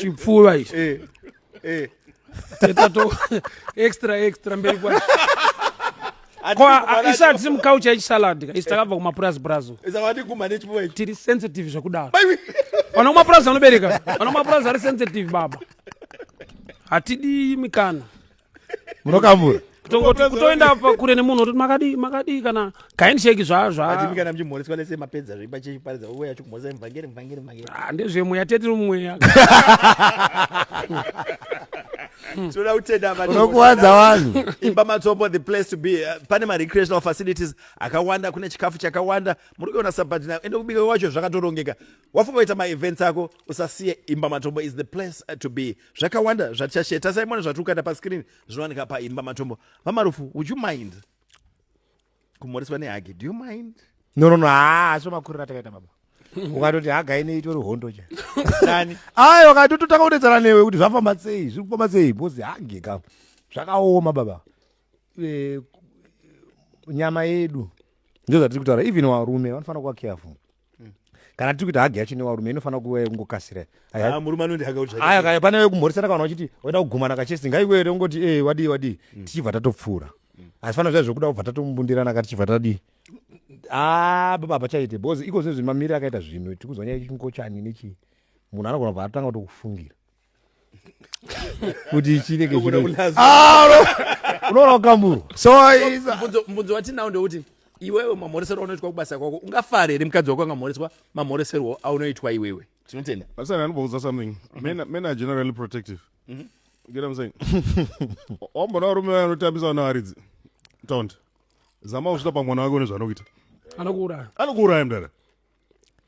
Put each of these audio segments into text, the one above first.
chipfuva ichi eh, eh. teta to extra extra mberi kwacho isati mukaucha ichisalad ka isi takabva kumapurazi purazi tiri sensitive zvekudaro vana kumapurazi vanobereka vana kumapurazi ari sensitive baba hatidi mikana munokambura kutoenda kure nemunhu ototi makadii makadii kana kaindsheki zvazvatimikana muchimhoreswa lese mapedza zveipa chechi paridza uwe yacho kumhoresa mvangeri mvangeri mvangeri ah, ndezvemweya tete mweya Hmm. tinoda kutenda unokuwadza vanhu imba matsombo the place to be uh, pane marecreational facilities akawanda kune chikafu chakawanda muri kuona sabati nayo ende kubika kwacho zvakatorongeka wafunga kuita maevents ako usasiye imba matombo is the place uh, to be zvakawanda zvatichashare tasai mwana zvatiri kuita paskirini zvinowanika paimba matombo vamarufu would you mind kumhoreswa nehagi do you mind no no no haa asi makuriro atakaita baba ukatoti haga ine itori hondo cha dani ayi wakatototanga kudedzana newe kuti zvafamba sei zviri kufamba sei bhozi hage ka zvakaoma baba Eh, nyama yedu ndizvo zvatiri kutaura even varume vanofanira kuva careful mm. kana tiri kuita hagi yacho newarume inofanira kuva yekungokasira ah, murume anondihaga pane wekumhoresana kana uchiti waida kugumana kachesi ngaiwe here ungoti e eh, wadii wadii mm. tichibva tatopfuura mm. asi fana zviya zvekuda kubva tatombundirana ka tichibva tadii ah, baba hapachaite because iko zvinhu zvimamiri akaita zvinhu tikuzwa nyaya chingochani nechii munhu anogona kubva atanga kutokufungira kuti chinenge unoona wakamurwa so mubvunzo watinawo ndewuti iwewe mamhoreserwo aunoitwa kubasa kwako ungafare here mukadzi wako angamhoreswa mamhoreserwo aunoitwa iwewe tinotenda vasana anobouza something men, men are generally protective mm -hmm. get i'm saying wambona varume vaya vanotambisa vana varidzi tond zama usvita pamwana wake une zvanokuita anokuuraya anokuuraya mdara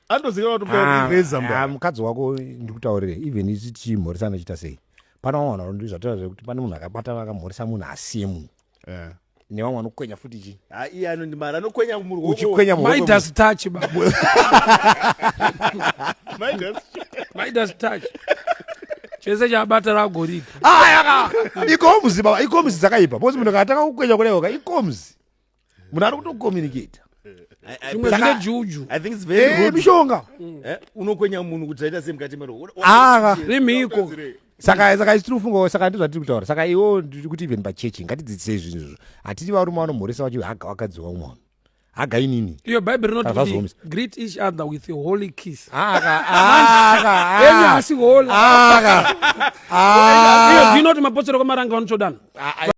andoziva kuti ah, reza mba ah, mukadzi wako ndikutaurire even isi tichimhoresa anochita sei pana vamwe vanhu ndi zvatoa zvekuti pane munhu akabatana akamhoresa munhu asiye munhu eh. nevamwe vanokwenya futi chi ah, iye anondimara anokwenya muruochikwenya maidas touch babu maidas touch chese chabata ragorika ikomuzi baba ikomuzi dzakaipa bcause munhu akatanga kukwenya kudaioka ikomuzi munhu ari kutocommunicator zvine juju eh, mishonga eh, unokwenya munhu kuti aita se mukati mero ah, rimhiko saka saka isi tinofungawo saka ndizvatiri kutaura saka iwo ndiri kuti even pachechi ngatidzidzisei zvinhu izvo hatiti varume vanomhoresa vacho haga wakadziwa mwana haga inini iyo bhaibheri rinoti greet each other with a holy kiss aka aka asi holy aka aka iyo zvinoti mapostori kwamaranga vanotsvodana